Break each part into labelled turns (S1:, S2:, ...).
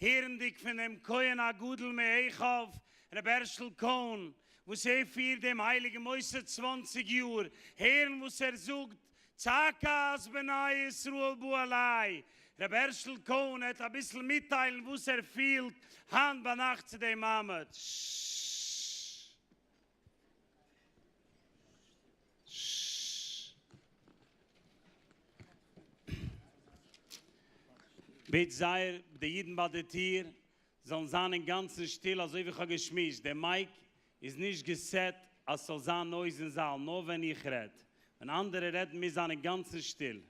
S1: הערנדיג פון דעם כהן הגדול מהיכב ר' הערשל קאהן וואס ער פירט דעם הייליגן מוסד צוואנציג יאר, הערן וואס ער זאגט, צעקה אז בני ישראל באו אליי, ר' הערשל קאהן העט אביסל מיטטיילן וואס ער פילט היינט ביינאכט צו דעם מעמד. בעט זייער די אידן ביי די טיר זאלן זיין אינגאנצן שטיל אזוי ווי כ'האב געשמועסט, די מייק איז נישט געסעט אז ס'זאל זיין נויז אין זאל, נאר ווען איך רעד, ווען אנדערע רעדן מוז זיין אינגאנצן שטיל.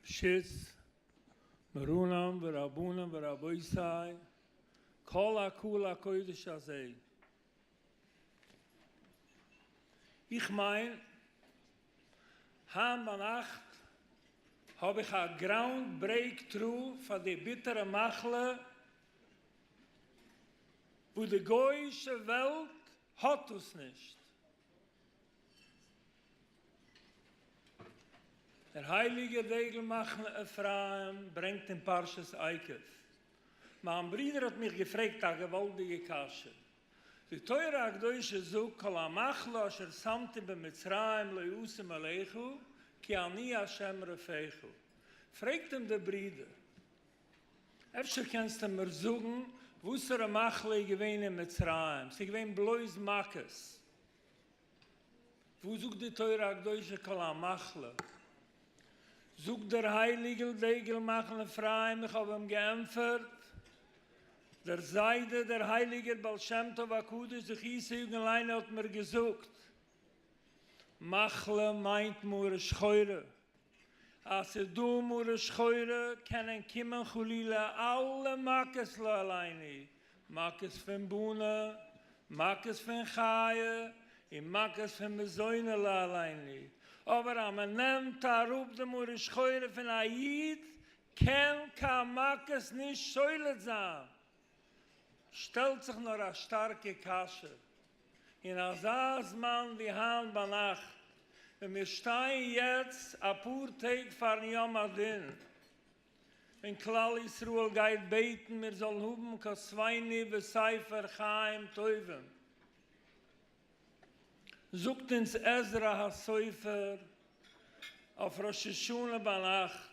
S2: ראשית, מרנן ורבנן ורבותי, כל הקהל הקודש הזה, איך מיין, היינט ביינאכט האב איך א גראונד ברעיק טרו פאר די ביטערע מחלה וואס די גוי'אישע וועלט האט דאס נישט. דער הייליגער דגל מחנה אפרים ברענגט אין פרשת עקב, מיין ברודער האט מיך געפרעגט א געוואלדיגע קשיא, די תורה הקדושה זאגט כל המחלה אשר שמתי במצרים לא אשים עליך כי אני ה' רופאיך, פרעגט אים דער ברודער, אפשר קענסטו מיר זאגן וואסערע מחלה איז געווען אין מצרים? ס'איז געווען בלויז מכות. וואו זאגט די תורה הקדושה כל המחלה? זאגט דער הייליגעל דגל מחנה אפרים איך האב אים געענפערט, דער זיידע דער הייליגער בעל שם טוב הקדוש זכותו יגן עלינו האט מיר געזאגט, מחלה מיינט מרה שחורה, אז ס'איז דא מרה שחורה קענען קומען חלילה אלע מכות לא עלינו, מכות פון בונה, מכות פון חיה, און מכות פון מזונה לא עלינו, אבער אז מ'נעמט אראפ די מרה שחורה פון א איד קען קיין מכות נישט שולט זיין, שטעלט זיך נאר א שטארקע קשיא, אין אזא זמן ווי היינט ביינאכט, ווען מיר שטייען יעצט אפאר טעג פארן יום הדין, ווען כלל ישראל גייט בעטן מיר זאלן האבן כוסווינו בספר חיים טובים, זאגט אונז עזרא הסופר אויף ראש השנה ביינאכט,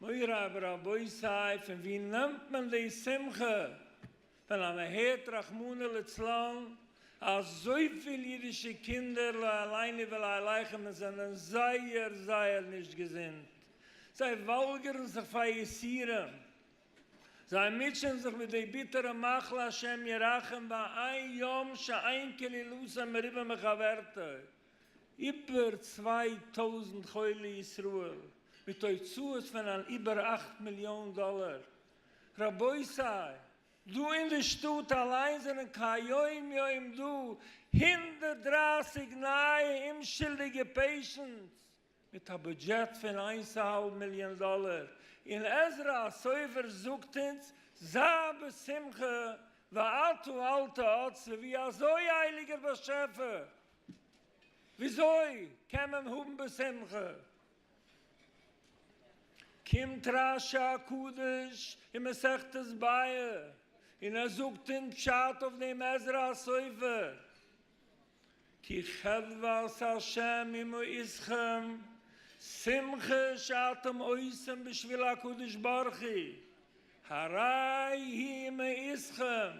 S2: מוריי ורבותיי פון ווי נעמט מען די שמחה ווען א מ'הערט רחמנא לצלן אזויפיל אידישע קינדער לא עליני ולא עליכם און זענען זייער זייער נישט געזונט זיי וואלגערן זיך פאר יסורים זיי מוטשען זיך מיט די ביטערע מחלה השם ירחם ואין יום שאין קללותיהם מרובה מחברתו איבער צוויי טויזנט חולי ישראל מיט הוצאות פון אן איבער אכט מיליאן דאלער. רבותי! דא אין די שטאט אליין זענען כהיום יום דא הונדערט דרײַסיק נייע אומשולדיגע פעישענטס מיט א בודזשעט פון איינס אהאלב מיליאן דאלער, און עזרא הסופר זאגט אונז זיי בשמחה ואתו אל תאצו, ווי אזוי הייליגער באשעפער וויאזוי קען מען האבן בשמחה? קומט רש י הקדוש אין מסכת באה און ער זאגט אונז פשט אויף דעם עזרא הסופר, כי חדוות השם עמו איתכם, שמחה שאתם עושים בשביל הקדוש ברוך הוא, הרי היא מעיתכם.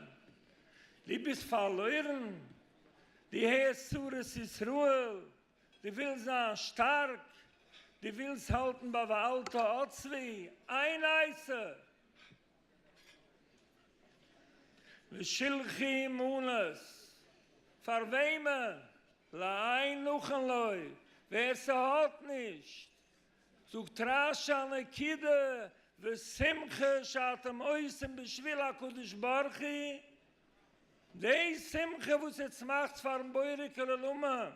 S2: דו ביסט פארלוירן? דו הערסט צרות ישראל? דו ווילסט זיין שטארק? דו ווילסט האלטן ביי ואל תעצבי? איין עצה! ושלחי מאנס, פאר וועמען? לעין נאכן לוי, ווער ס'האט נישט, זאגט רש א נקודה ושמחה שאתם עושים בשביל הקדוש ברוך הוא, די שמחה וואס איר צמאכטס פארן בורא כולל אומן,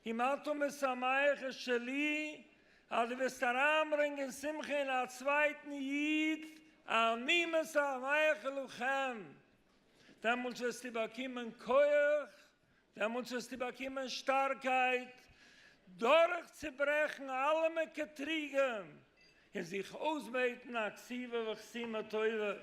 S2: און מה אתה משמח את שלי, אז דו וועסט אריינברענגען שמחה אין א צווייטן איד, אני משמח לכם, דעמאלטס וועסטו באקומען כח, דעמאלטס וועסטו באקומען שטארקייט, דורכצוברעכן אלע מקטריגים, און זיך אויסבעטן א קציבה וחסימה טובה.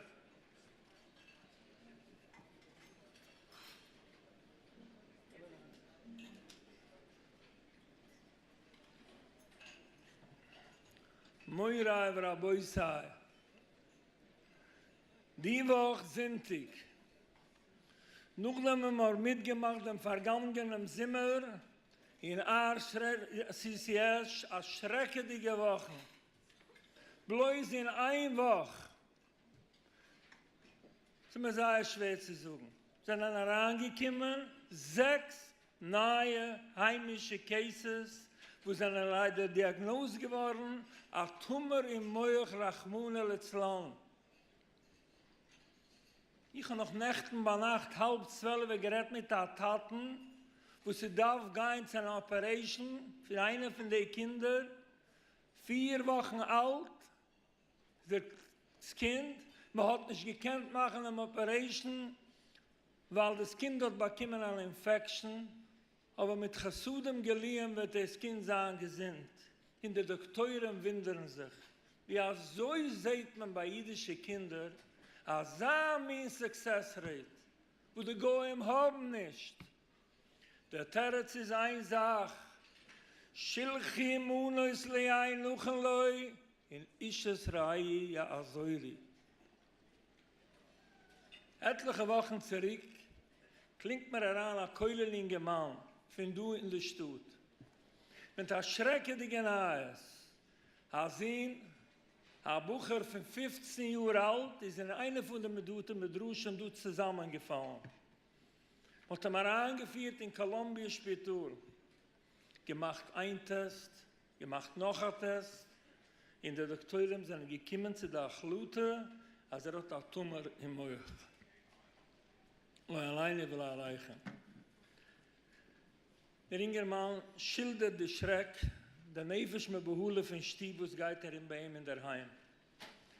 S2: מוריי ורבותיי, די וואך זונטאג, נאכדעם וואס מ'האט מיטגעמאכט דעם פארגאנגענעם זומער אין אר ש סיסי-עש א שרעקעדיגע וואכן, בלויז אין איין וואך, ס'איז מיר זייער שווער צו זאגן. זענען אריינגעקומען זעקס נייע היימישע קעיסעס וואס זענען ליידער דיאגנאוזט געווארן א טומער אין מח רחמנא לצלן. איך האב נאך נעכטן ביינאכט האלב צוועלעווע גערעדט מיט א טאטן וואס איז דארף גיין צו אן אפערעישן פון איינע פון די קינדער, פיר וואכן אלט, דאס קינד, מען האט נישט געקענט מאכן דעם אפערעישן ווייל דאס קינד האט באקומען אן אינפעקשן, אבער מיט חסדים גליון וועט דאס קינד זיין געזונט, און די דאקטוירים ווינדערן זיך ווי אזוי זעהט מען ביי אידישע קינדער אזא מין סוקסעס רעיט וואס די גוים האבן נישט. דער תירוץ איז איין זאך, שלחי מנות לאין נאכן לוי און אשת רעי יעזורי. עטליכע וואכן צוריק קלינגט מיר אריין א כולל אינגערמאן פון דא אין די שטאט מיט א שרעקעדיגע נייעס, א זון, א בחור פון פופצן יאר אלט, איז אין איינע פון די בתי מדרשים דא צוזאמענגעפאלן מ'האט אים אריינגעפירט אין קאלאמביע שפיטאל, געמאכט איין טעסט, געמאכט נאך א טעסט, און די דאקטוירים זענען געקומען צו די החלטה אז ער האט א טומאר אין מח. אוי עלינו ולא עליכם. דער אינגערמאן שילדערט די שרעק, די נפש מבהלה פון שטוב וואס גייט ארום ביי אים אינדערהיים,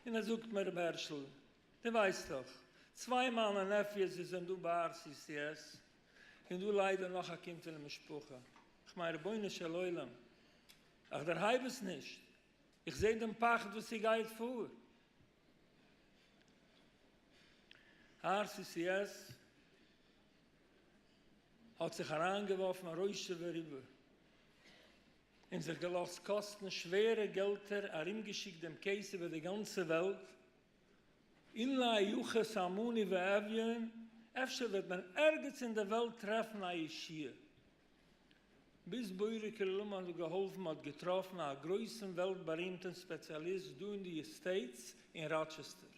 S2: און ער זאגט מיר, רבי הערשל, דו ווייסט דאך, צוויי מיינע נעפיוס וואס זענען דא ביי RCCS, און דא ליידער נאך א קינד פונעם משפחה, איך מיין רבונו של עולם, איך דערהייב עס נישט, איך זעה דעם פחד וואס איר גייט פאר. RCCS האט זיך אריינגעווארפן א ראשו וריבו, און זיך געלאזט קאסטן שווערע געלטער, ארומגעשיקט דעם קעיס איבער די גאנצע וועלט, אין לה יחוס המוני ואביון, אפשר וועט מען ערגעץ אין די וועלט טרעפן א ישיעה. ביז בורא כלילים האט געהאלפן מ'האט געטראפן א גרויסן וועלט בארימטן ספעציאליסט דא אין די עסטעיטס אין ראטשעסטער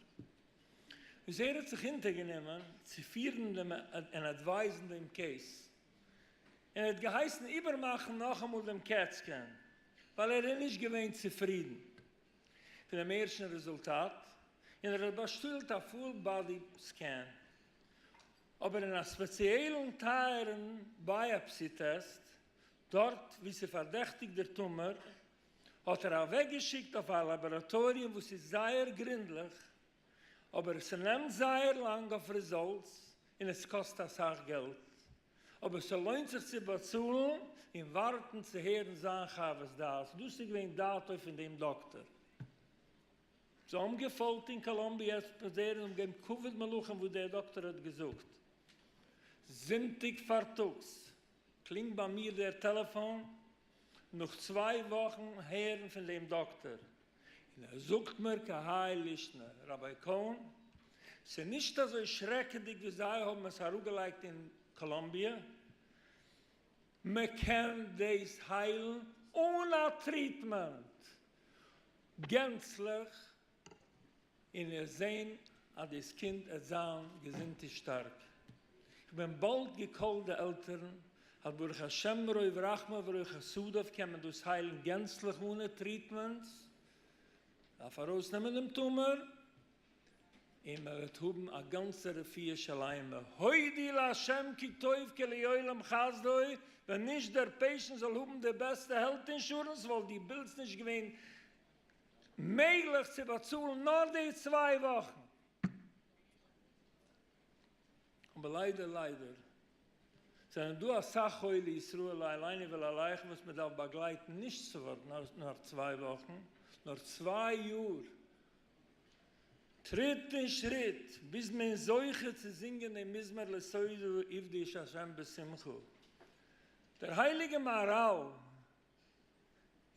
S2: וואס ער האט זיך אונטערגענומען צו פירן דעם און עדווייזן דעם קעיס און ער האט געהייסן איבערמאכן נאכאמאל דעם קעט סקען ווייל ער איז נישט געווען צופרידן. פונעם ערשטן רעזולטאט און ער האט באשטעלט א פול באדי סקען, אבער אין א ספעציעלן טייערן בייאפסי טעסט דארט וואו ס'פארדעכטיגט דער טומער האט ער אוועקגעשיקט אויף א לאבאראטאריע וואו ס'איז זייער גרינדליך אבער ס'נעמט זייער לאנג אויף רעזאלטס און עס קאסט אסאך געלט, אבער ס'לוינט זיך צו באצאלן און ווארטן צו הערן זיין חוות דעת, דאס איז געווען דעתו פון דעם דאקטאר. זיי האבן געפאלגט אין קאלאמביע עס פרזערן און האבן געגעבן כבוד מלכים וואס דער דאקטאר האט געזאגט. זונטאג פארטאגס קלינגט ביי מיר דער טעלעפאן נאך צוויי וואכן הערן פון דעם דאקטער און ער זאגט מיר כהאי לישנא, ראביי קאהן, ס'איז נישט אזוי שרעקעדיג ווי זיי האבן עס אראפגעלייגט אין קאלאמביע, מען קען דאס היילן אן א טריטמענט גענצליך. און ער זען אז דאס קינד עט זיין געזונט און שטארק. איך בין באלד געקאלט די עלטערן אז ברוך השם מרוב רחמיו ורוב חסדיו קען מען דאס היילן גענצליך אנע טריטמענטס, דארף ארויסנעמען דעם טומער און מען וועט האבן א גאנצע רפואה שלימה, הודי לה' כי טוב כי לעולם חסדו, ווען נישט דער פעישענט זאל האבן די בעסטע העלט אינשורענס וואלט די בילס נישט געווען מעגליך צו באצאלן נאר די צוויי וואכן, אבער ליידער ליידער זענען דא אסאך חולי ישראל אליין און ולעליך וואס מען דארף באגלייטן נישט צו ווארטן נאר צוויי וואכן, נאר צוויי יאר, טריט און שריט ביז מען איז זוכה צו זינגען דעם מזמור לסעודה עבדי את ה' בשמחה. דער הייליגער מהרל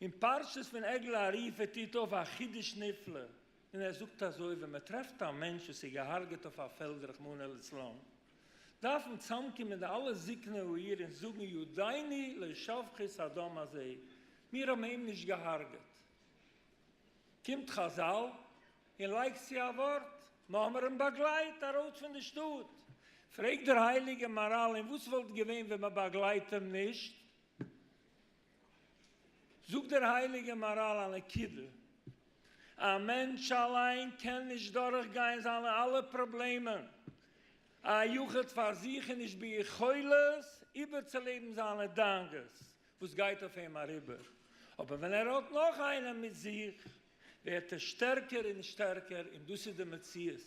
S2: אין פרשת פון עגלה ערופה טוט אויף א חידוש נפלא און ער זאגט אזוי ווען מען טרעפט א מענטש וואס איז געהארגעט אויף א פעלד רחמנא לצלן דארפן צאמקומען די אלע זקני העיר און זאגן יודעיני לא שפכות הדם הזה מיר האבן אים נישט געהארגעט קומט חזל און לייגט צו א ווארט מען האמער אים באגלייט ארויס פון די שטאט פרעגט דער הייליגע מהרל און וואס וואלט געווען ווען מען באגלייט אים נישט זאגט דער הייליגער מהרל א נקודה, א מענטש אליין קען נישט דורך גיין זיינע אלע פראבלעמען, א יחיד פאר זיך איז נישט ביכולת איבערצולעבן זיינע דאגות וואס גייט אויף אים אריבער, אבער ווען ער האט נאך איינעם מיט זיך, ווערט ער שטערקער און שטערקער און דאס איז די מציאות.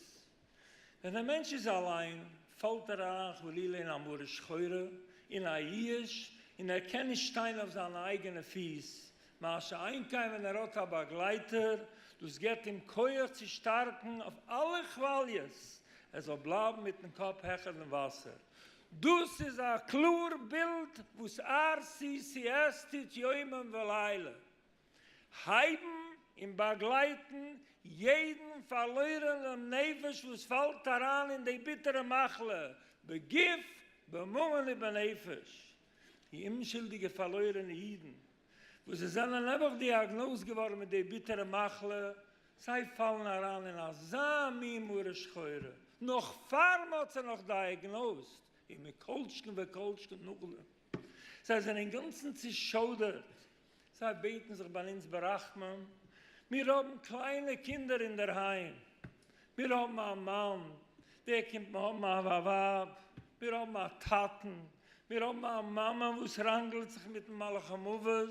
S2: ווען דער מענטש איז אליין פאלט ער אריין חלילה אין א מרה שחורה, אין א ייאוש, און ער קען נישט שטיין אויף זיינע אייגענע פיס, מה שאין כן ווען ער האט א באגלייטער, דאס געבט אים כח צו שטארקן אויף אלע כוואליעס, ער זאל בלייבן מיטן קאפ העכער דעם וואסער. דאס איז א קלאר בילד וואס RCCS טוט יומם ולילה. הייבן און באגלייטן יעדן פארלוירענעם נפש וואס פאלט אריין אין די ביטערע מחלה בגוף בממון ובנפש, די אומשולדיגע פארלוירענע אידן וואס זיי זענען נעבעך דיאגנאוזט געווארן מיט די ביטערע מחלה, זיי פאלן אריין אין אזא מין מרה שחורה נאך פאר מען האט זיי נאך דיאגנאוזט, און מכל שכן וכל שכן נאכדעם, זיי זענען אינגאנצן צושוידערט זיי בעטן זיך ביי אונז ברחמים, מיר האבן קליינע קינדער אינדערהיים, מיר האבן א מאן, דער קומט מיר האבן א ווייב, מיר האבן א טאטן, מיר האבן א מאמע וואס ראנגלט זיך מיטן מלאך המוות,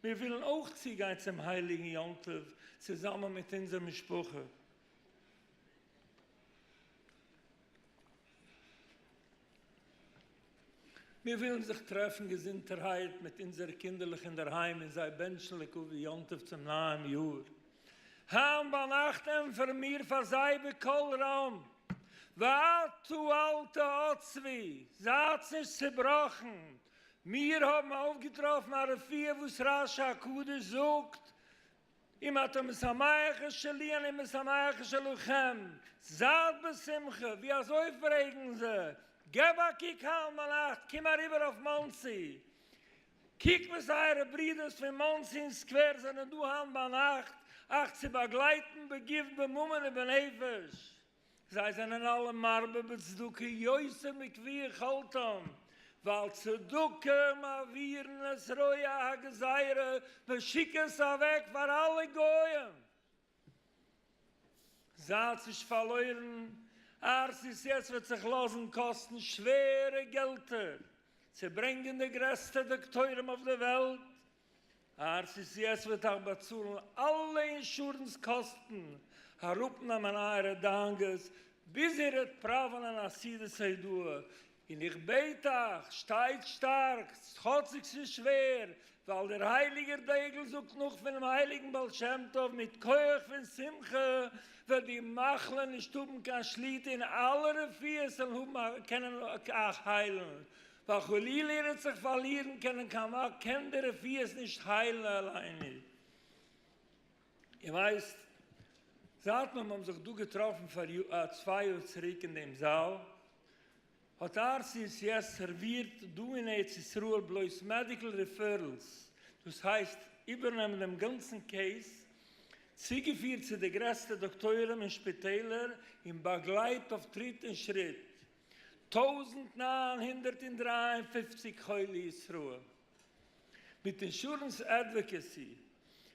S2: מיר ווילן אויך צוגיין צום הייליגן יום טוב צוזאמען מיט אונזער משפחה. מיר ווילן זיך טרעפן געזונטערהייט מיט אונזערע קינדערלעך אינדערהיים און זיי בענטשן לקובע יום טוב צום נייעם יאר. היינט ביינאכט ענטפערן מיר פאר זיי בקול רם, ואתו אל תעצבי, זייטס נישט צעבראכן, מיר האבן אויפגעטראפן א רפואה וואס רשי הקדוש זאגט אם אתה משמח את שלי אני משמח את שלכם, זייט בשמחה, ווי אזוי פרעגן זיי, געב א קוק היינט ביינאכט, קום אריבער אויף מאנסי, קוק וואס אייערע ברודערס פון מאנסי און סקווער זענען דא היינט ביינאכט אייך צו באגלייטן בגוף בממון ובנפש. זיי זענען אלע מרבה בצדקה יוצא מכפי יכולתם, ווייל צדקה מעבירין את רוע הגזירה, מען שיק עס אוועק פאר אלע גוים, זייטס נישט פארלוירן, ארצות יעצט וועט זיך לאזן קאסטן שווערע געלטער צו ברענגען די גרעסטע דאקטוירים אויף די וועלט אר סי סי עס וועט אייך באצאלן אלע אינשורענס קאסטן, אראפנעמען אייערע דאנגעס, ביז איר וועט פראווענען א סידור סעדוה, און איך בעט אייך, שטייט שטארק, כאטשיג ס'איז שווער, ווייל דער הייליגער דגל זאגט נאך פונעם הייליגן בעל שם טוב, מיט כח פון שמחה וועט די מחלה נישט האבן קיין שליטה און אלע רפואות וועלן האבן א קענען אייך היילן, ווייל חלילה ער וועט זיך פארלירן קענען קיין וואג קען די רפואות נישט היילן אליין איר ווייסט זייט מען האבן זיך דא געטראפן פאר צוויי יאר צוריק אין דעם זאל האט RCCS סערווירט דא אין ארץ ישראל בלויז מעדיקל ריפערלס דאס הייסט איבערנעמען דעם גאנצן קעיס צוגעפירט צו די גרעסטע דאקטוירים און שפיטעלער און באגלייט אויף טריט און שריט טויזנט נײַן הונדערט און דרײַ און פֿופֿציק חולי ישראל מיט אינשורענס עדוואקעסי,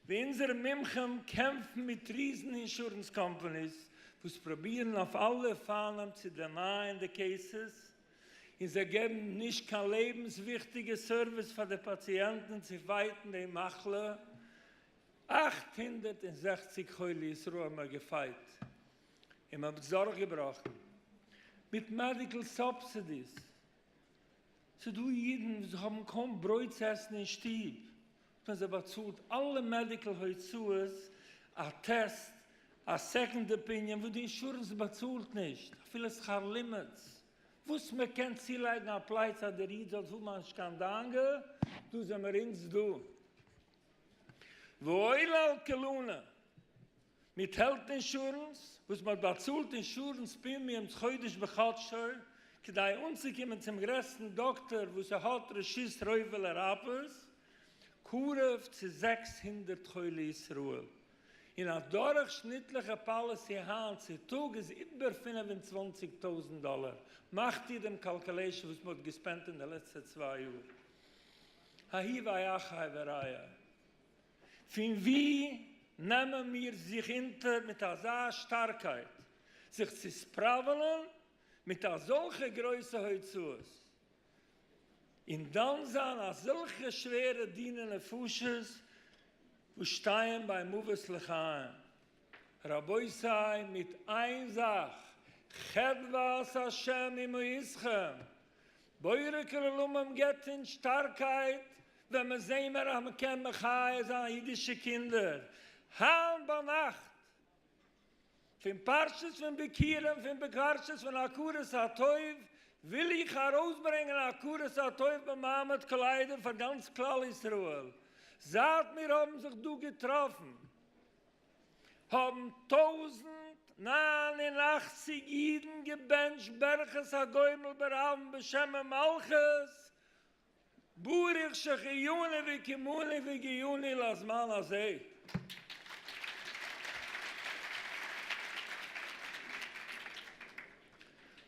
S2: ווי אונזערע מומחים קעמפן מיט ריזן אינשורענס קאמפאניס וואס פרובירן אויף אלע אופנים צו דענייען די קעיסעס, און זיי געבן נישט קיין לעבנס וויכטיגע סערוויס פאר די פאציענטן צו פייטן די מחלה, אַכט הונדערט און זעכציק חולי ישראל האבן מיר געפייט. און מ'האט עס דורכגעבראכן מיט מעדיקל סובסידיס, ס'דא אידן וואס האבן קוים ברויט צו עסן אין שטוב, האט מען זיי באצאלט אלע מעדיקל הוצאות, א טעסט, א סעקאנד אפיניען וואס די אינשורענס באצאלט נישט, אפילו שכר לימוד, וואס מ'קען צולייגן א פלייץ אז דער איד זאל האבן אנש קיין דאנגע, דא זעמיר אונז דא. ואויל על כולנה. מיט העלט אינשורענס וואס מ'האט באצאלט אינשורענס פרימיומס חודש בחדשו כדי אנצוקומען צום גרעסטן דאקטאר וואס ער האט רשות רובע לרפות קרוב צו זעקס הונדערט חולי ישראל און א דורכשניטליכע פאליסי היינט צו טאג איז איבער פֿינף און צוואַנציק טויזנט דאלער מאכט איר דעם קאלקעלעישן וואס מ'האט געספענדט אין די לעצטע צוויי יאר האי ואי אחי וראיה. פון ווי נעמען מיר זיך אונטער מיט אזא שטארקייט זיך צו ספראוועלען מיט אזעלכע גרויסע הוצאות און דן זיין אזעלכע שווערע דיני נפשות וואס שטייען ביי מוות לחיים? רבותי מיט איין זאך, חדוות השם עמו איתכם, בורא כל עולמים געבט אונז שטארקייט ווען מיר זעהן מיר אז מען קען מחיה זיין אידישע קינדער, היינט ביינאכט פון פרשת פון ביכורים פון בפרשת פון הכרת הטוב וויל איך ארויסברענגען הכרת הטוב במעמד קליידער פאר גאנץ כלל ישראל זייט מיר האבן זיך דא געטראפן. האבן טויזנט נײַן און אַכציק אידן געבענטשט ברכת הגומל ברבים בשם ומלכות, ברוך שהחייני וקיימני והגיעני לזמן הזה.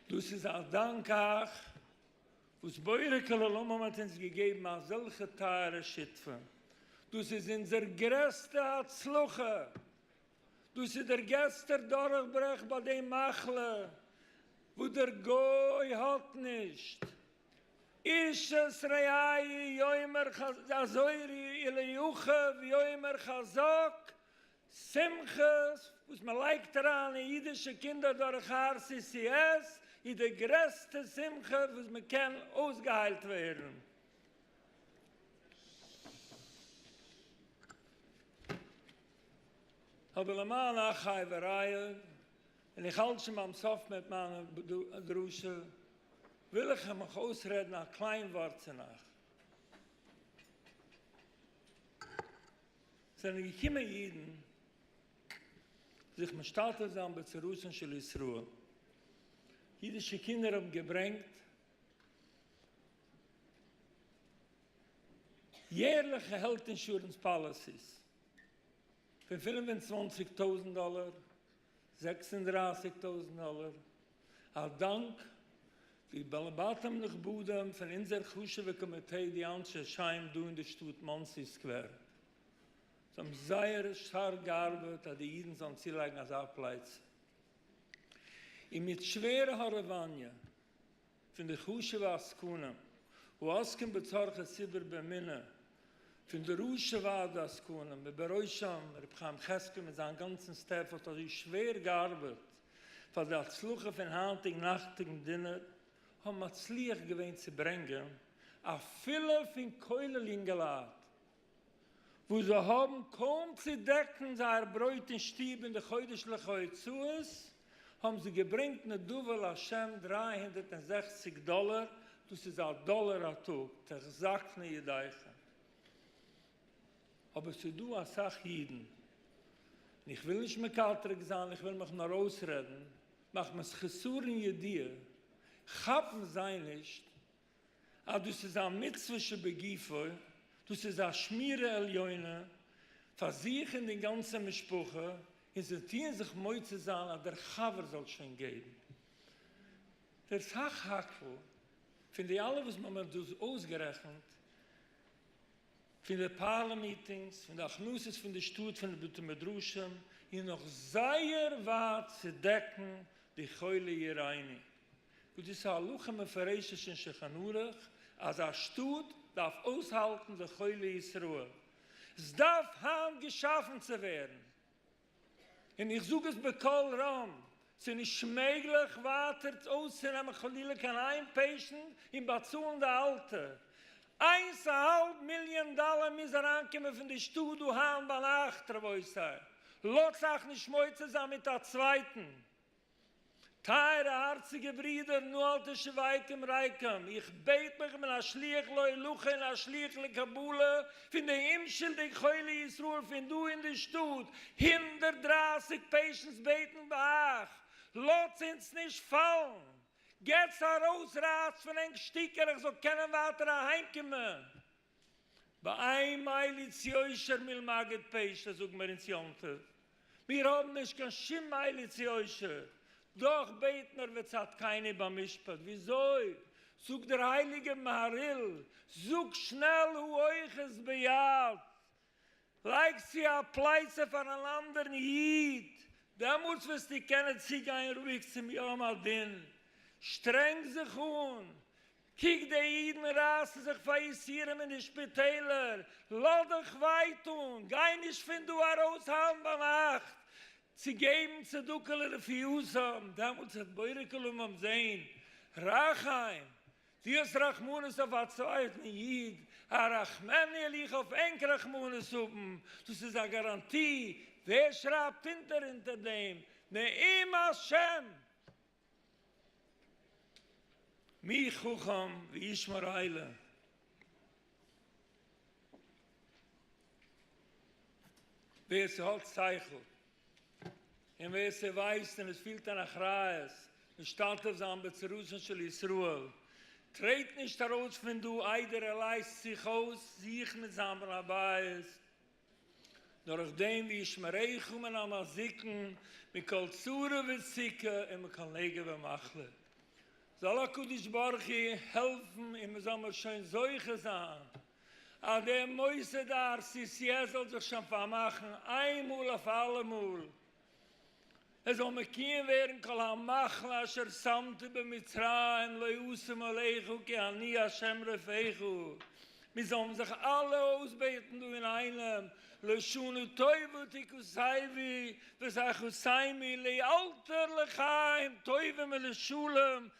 S2: דאס איז א דאנק אייך. וואס בורא כל עולמים האט אונז געגעבן אזעלכע טייערע שותפים, דאס איז אונזער גרעסטע הצלחה, דאס איז דער געסטער דורכברעך ביי די מחלה וואס דער גוי האט נישט, איש את רעיו יאמר חזק אזוירי אליהו חב יאמר חזק שמחות וואס מען לייגט אריין אין אידישע קינדער דורך RCCS איז די גרעסטע שמחה וואס מען קען אויסגעהיילט ווערן. אבער למען אחי ורעיי, און איך האלט שוין ביים סוף מיט מיין דרשה, וויל איך מיך אויסרעדן א קליין ווארט צו נאך. זענען געקומען אידן זיך משתלטף זיין בצרותן של ישראל, אידישע קינדער האבן געברענגט יערליכע העלט אינשורענס פאליסיס פון פֿינף און צוואַנציק טויזנט דאלער, זעקס און דרײַסיק טויזנט דאלער, א דאנק די בעלי בתים נכבדים פון אונזער חשובע קאמיטעי די אנשי שם דא אין די שטאט מאנסי סקווער, זיי האבן זייער שטארק געארבעט אז די אידן זאלן צולייגן אזא פלייצע, און מיט שווערע הארעוואניע. פון די חשוב'ע עסקנים העוסקים בצרכי ציבור באמונה, פון די ראשי ועד העסקנים ובראשם ר' חיים חזקאל מיט זיין גאנצן סטעף האט אזוי שווער געארבעט פאר די הצלחה פון היינטיגן נאכטיגן דינער, האבן מצליח געווען צו ברענגען אפילו פון כולל יונגעלייט וואס זיי האבן קוים צו דעקן זייער ברויט אין שטוב און די חודש'ליכע הוצאות, האבן זיי געברענגט נדבה להשם דרײַ הונדערט און זעכציק דאלער, דאס איז א דאלער א טאג, תחזקנה ידיכם. אבער ס'איז דא אסאך אידן, און איך וויל נישט מקטרג זיין, איך וויל מיך נאר אויסרעדן, מחמת חסרון ידיעה, כאפן זיי נישט אז דאס איז א מצוה שבגופו, דאס איז א שמירה עליונה פאר זיך און די גאנצע משפחה, און זיי טוען זיך מוצא זיין אז דער חבר זאל שוין געבן. דער סך הכל פון די אלע וואס מען האט דא אויסגערעכנט, פון די פארלער מיטינגס, פון די הכנסות פון די שטאט, פון די בתי מדרשים, איז נאך זייער ווייט צו דעקן די חולי עירני. וואס דאס איז א הלכה מפורשת אין שולחן ערוך אז א שטאט דארף אויסהאלטן די חולי ישראל, עס דארף היינט געשאפן צו ווערן, און איך זאג עס בקול רם, עס איז נישט מעגליך ווייטער אויסצונעמען חלילה קיין איין פעישענט און באצאלן די אלטע, איינס א האלב מיליאן דאלער מוז אריינקומען פון די שטאט דא היינט ביינאכט, רבותי, לאטס אייך נישט מוצא זיין מיט א צווייטן. טייערע הארציגע ברידער נו אל תשוויתם רייקם, איך בעט מיך, איך בין א שליח להולכה און א שליח לקבלה פון די אומשולדיג חולי ישראל פון דא אין די שטאט, הונדערט דרײַסיק פעישענטס בעטן ביי אייך, לאטס אונז נישט פאלן, געטס ארויס, רייסט פון ענק שטיקער איך זאל קענען ווייטער אהיימקומען. באין מליץ יושר מלמגד פשט זאגן מיר אונז יום טוב מיר האבן נישט קיין שום מליץ יושר דאך בעט מיר וצדקני במשפט וויאזוי זאגט דער הייליגער מהריל זאג שנעל הואיך עס ביד לייג צו א פלייצע פאר אן אנדערן איד, דעמאלטס וועסטו קענען צוגיין רואיג צום יום הדין. שטרענג זיך אן, קוק די אידן רייסן זיך פאר יסורים אין די שפיטעלער, לאז דיך וויי טון, גיי נישט פון דא ארויס היינט ביינאכט צו געבן צדקה לרפיותם, דעמאלטס וועט בורא כולם זען רחם דו האסט רחמנות אויף א צווייטן איד, הרחמני עליך אויף ענק רחמנות האבן, דאס איז א גאראנטי, ווער שרייבט אונטער אונטער דעם נעים השם? מי חכם וישמר אלה. ווער ס'האט שכל און ווער ס'ווייסט און עס פילט אן אחריות משתתף זיין בצרתן של ישראל, טרעט נישט ארויס פון דא איידער ער לייזט זיך אויס זיך מיט זיין בעל הבית, דורך דעם וישמריך מן המזיקין מכל צרה וסוכה און מכל נגע ומחלה, זאל הקדוש ברוך הוא העלפן און מ'זאל מיר שוין זוכה זיין אז דער מוסד אר סי סי עס זאל זיך שוין פארמאכן איין מאל אויף אלעמאל, עס זאל מקויים ווערן כל המחלה אשר שמתי במצרים לא אשים עליך כי אני השם רפאיך, מיר זאלן זיך אלע אויסבעטן דא אינאיינעם, לשונו טובה תכוסייבי ותחוסיימי לאלתר לחיים טובים ולשלום,